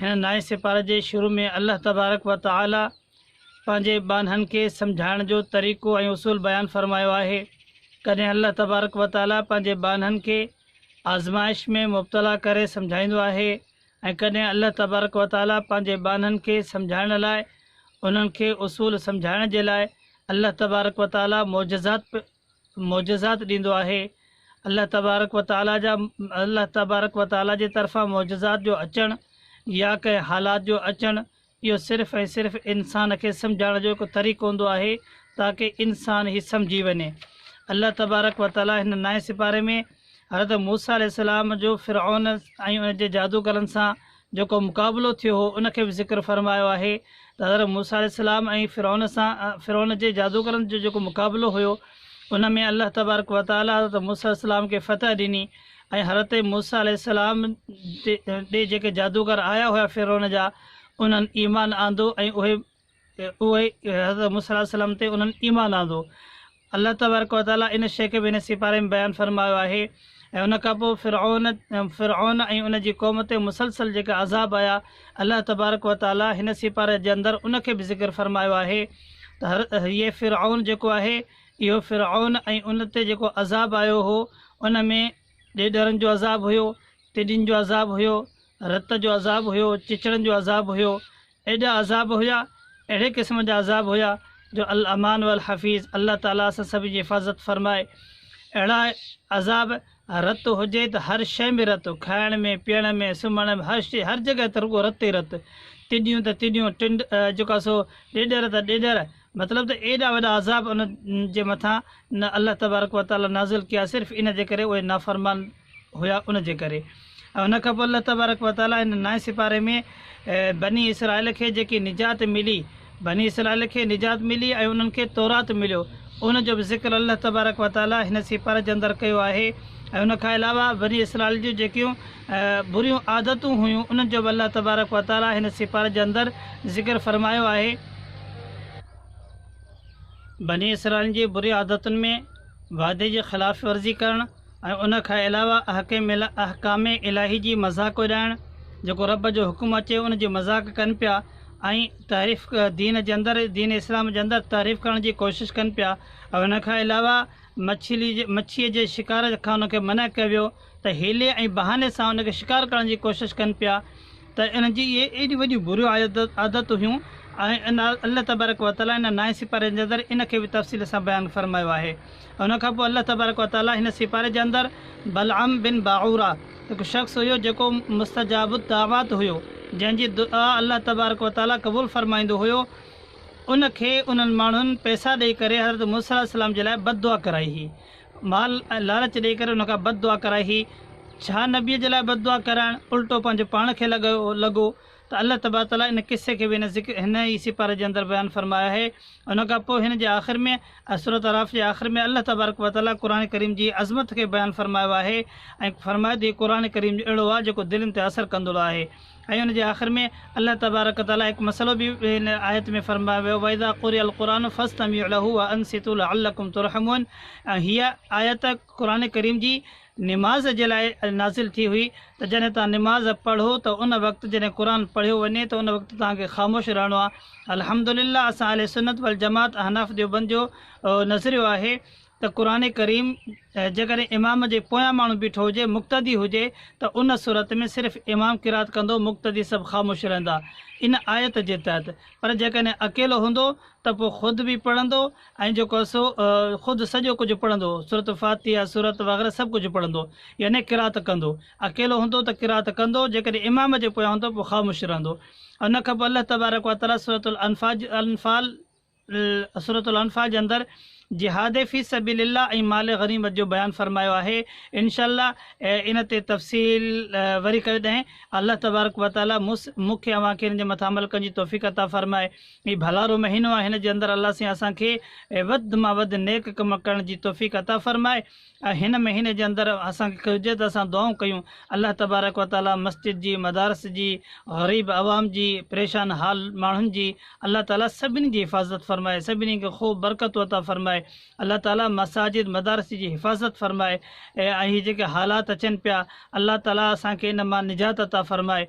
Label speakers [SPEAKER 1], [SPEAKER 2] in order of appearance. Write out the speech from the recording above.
[SPEAKER 1] هن نائين سيپاري جي شروع ۾ الله تبارڪ و تعالي پنهنجي ٻانهن کي سمجهائڻ جو طريقو ۽ اصول بيان فرمايو آهي. ڪڏهن الله تبارڪ و تعالي پنهنجي ٻانهن کي آزمائش ۾ مبتلا ڪري سمجهائيندو آهي ۽ ڪڏهن الله تبارڪ و تعالي پنهنجي ٻانهن کي سمجهائڻ لاء انهن کي اصول سمجهائڻ جي لاء الله تبارڪ و تعالي معجزات معجزات ڏيندو آهي، الله تبارڪ و تعاليٰ جا الله تبارڪ و تعاليٰ جي طرفان معجزات جو اچڻ يا ڪنهن حالات جو اچڻ اهو صرف ۽ صرف انسان کي سمجهائڻ جو هڪ طريقو هوندو آهي تاڪه انسان هي سمجهي وڃي الله تبارڪ و تعاليٰ هن نائين سپاري ۾ حضرت موسيٰ عليه السلام جو فرعون ۽ ان جي جادوگرن سان جيڪو مقابلو ٿيو هو ان کي به ذڪر فرمايو آهي ته حضرت موسيٰ عليه السلام ۽ فرعون سان فرعون جي جادوگرن جو جيڪو مقابلو هيو ان ۾ الله تبارڪ وتعاليٰ حضرت موسيٰ عليه السلام کي فتح ڏني ۽ حضرت موسيٰ عليه السلام ڏي جيڪي جادوگر آيا هيا فرعون جا انهن ايمان آندو ۽ اهي ته اهي حضرت موسيٰ عليه السلام تي انهن ايمان آندو. الله تبارڪ و تعاليٰ ان شيء کي به ان سيپاري ۾ بيان فرمايو آهي ۽ ان کان پوء فرعون فرعون ۽ ان جي قوم تي مسلسل جيڪا عذاب آيا الله تبارڪ و تعاليٰ هن سيپاري جي اندر ان کي به ذڪر فرمايو آهي ته هر هيء فرعون جيڪو آهي اهو فرعون ۽ ان تي جيڪو عذاب آيو هو ان ۾ ڏيڏرن جو عذاب هيو، ٽڊين جو عذاب هيو، رت جو عذاب هيو، چچڙن جو عذاب هيو، ايڏا عذاب هيا، اهڙي قسم جا عذاب هيا، جو الامان والحفيظ الله تعاليٰ اسان سڀ جي حفاظت فرمائي. اهڙا عذاب، رت هجي ته هر شيء ۾ رت، کائڻ ۾، پيئڻ ۾، سمهڻ ۾، هر شيء، هر جڳهه ته رڳو رت ئي رت. ٽڊيون ته ٽڊيون، ٽنڊ جيڪا سو ڏيڏر ته ڏيڏر، مطلب ته ايڏا وڏا عذاب انهن جي مٿان نه الله تبارڪ وتعاليٰ نازل ڪيا صرف ان جي ڪري اهي نافرمان، هيا ان جي ڪري ۽ ان کان پوء الله تبارڪ و تعالي هن نائين سپاري ۾ بني اسرائيل کي جيڪي نجات ملي بني اسرائيل کي نجات ملي ۽ انهن کي تورات مليو ان جو به ذڪر الله تبارڪ و تعالي هن سپاري جي اندر ڪيو آهي ۽ ان کان علاوه بني اسرائيل جون جيڪيون بريون عادتون هيون انهن جو به الله تبارڪ و تعالي هن سپاري جي اندر ذڪر فرمايو آهي بني اسرائيل جي بري عادتن ۾ وعدي جي خلاف ورزي ڪرڻ ۽ ان کان علاوه احڪام الاھي جي مذاق اڏائڻ، جيڪو رب جو حڪم اچي ان جي مذاق ڪن پيا ۽ تحريف دين جي اندر دين اسلام جي اندر تحريف ڪرڻ جي ڪوشش ڪن پيا ۽ ان کان علاوه مڇيء جي شڪار کان انهن کي منع ڪيو ويو ته حيلي ۽ بهاني سان ان کي شڪار ڪرڻ جي ڪوشش ڪن پيا ته انهن جي اهي ايڏيون وڏيون بريون عادتون هيون ۽ الله تبارڪ وتعالي ان نائين سپاري جي اندر ان کي به تفصيل سان بيان فرمايو آهي. ان کان پوء الله تبارڪ و تعاليٰ هن سپاري جي اندر بلعام بن باعوره هڪ شخص هيو جيڪو مستجاب الدعوات هيو، جنهن جي دعا الله تبارڪ و تعاليٰ قبول فرمائيندو هيو، ان کي انهن ماڻهن پئسا ڏئي ڪري حضرت موسيٰ عليه السلام جي لاء بد دعا ڪرائي هئي. مال ۽ لالچ ڏئي ڪري ان کان بد دعا ڪرائي هئي. ڇا نبيء جي لاء بد دعا ڪرائڻ الٽو پنهنجو پاڻ کي لڳو؟ ته الله تبارڪ تعاليٰ ان قصي کي به هن ذڪر هن ئي سيپاري جي اندر بيان فرمايو آهي. ان کان پوء هن جي آخر ۾ ۽ سورة اعراف جي آخر ۾ الله تبارڪ و تعاليٰ قرآن ڪريم جي عظمت کي بيان فرمايو آهي ۽ فرمايو ته هي قرآن ڪريم جو اهڙو آهي جيڪو دلين تي اثر ڪندڙو آهي ۽ ان جي آخر ۾ الله تبارڪ تعاليٰ هڪ مسئلو به هن آيت ۾ فرمايو ويو واذا قرئ القرآن فاستمعوا له وانصتوا لعلڪم ترحمون ۽ هيء آيت قرآن ڪريم جي نماز جي لاء نازل ٿي هئي ته جڏهن توهان نماز پڙهو ته ان وقت جڏهن قرآن پڙهيو وڃي ته ان وقت توهان کي خاموش رهڻو آهي الحمدلله اسان اهل سنت والجماعت احناف ديوبند جو نظريو آهي ته قرآن ڪريم جيڪڏهن امام جي پويان ماڻهو بيٺو هجي مقتدي هجي ته ان صورت ۾ صرف امام قرات ڪندو مقتدي سڀ خاموش رهندا ان آيت جي تحت پر جيڪڏهن اڪيلو هوندو ته پوء خود به پڙهندو ۽ جيڪو سو خود سڄو ڪجهه پڙهندو، سورة فاتحه، سورت وغيره سڀ ڪجهه پڙهندو، يعني قرائت ڪندو، اڪيلو هوندو ته قرائت ڪندو، جيڪڏهن امام جي پويان هوندو پوء خاموش رهندو. ان کان پوء الله تبارڪ و تعالي سورة الانفال، سورة الانفال، جي اندر جهاد في سبيل الله ۽ مال غنيمت جو بيان فرمايو آهي، ان شاء الله ان تي تفصيل وري ڪڏهن الله تبارڪ و تعالي مون کي اوهان کي ان جي مٿان عمل ڪرڻ جي توفيق عطا فرمائي. هي ڀلارو مهينو آهي هن جي اندر الله سين اسان کي وڌ مان وڌ نيڪ ڪم ڪرڻ جي توفيق عطا فرمائي ۽ هن مهيني جي اندر اسان کي هجي ته اسان دعائون ڪيون الله تبارڪ و تعالي مسجد جي مدارس جي غريب عوام جي پريشان حال ماڻهن جي الله تعالي سڀني جي حفاظت فرمائي سڀني کي خوب برڪتون عطا فرمائي الله تعالي مساجد مدارس جي حفاظت فرمائي ۽ هي جيڪي حالات اچن پيا الله تعالي اسان کي ان مان نجات عطا فرمائي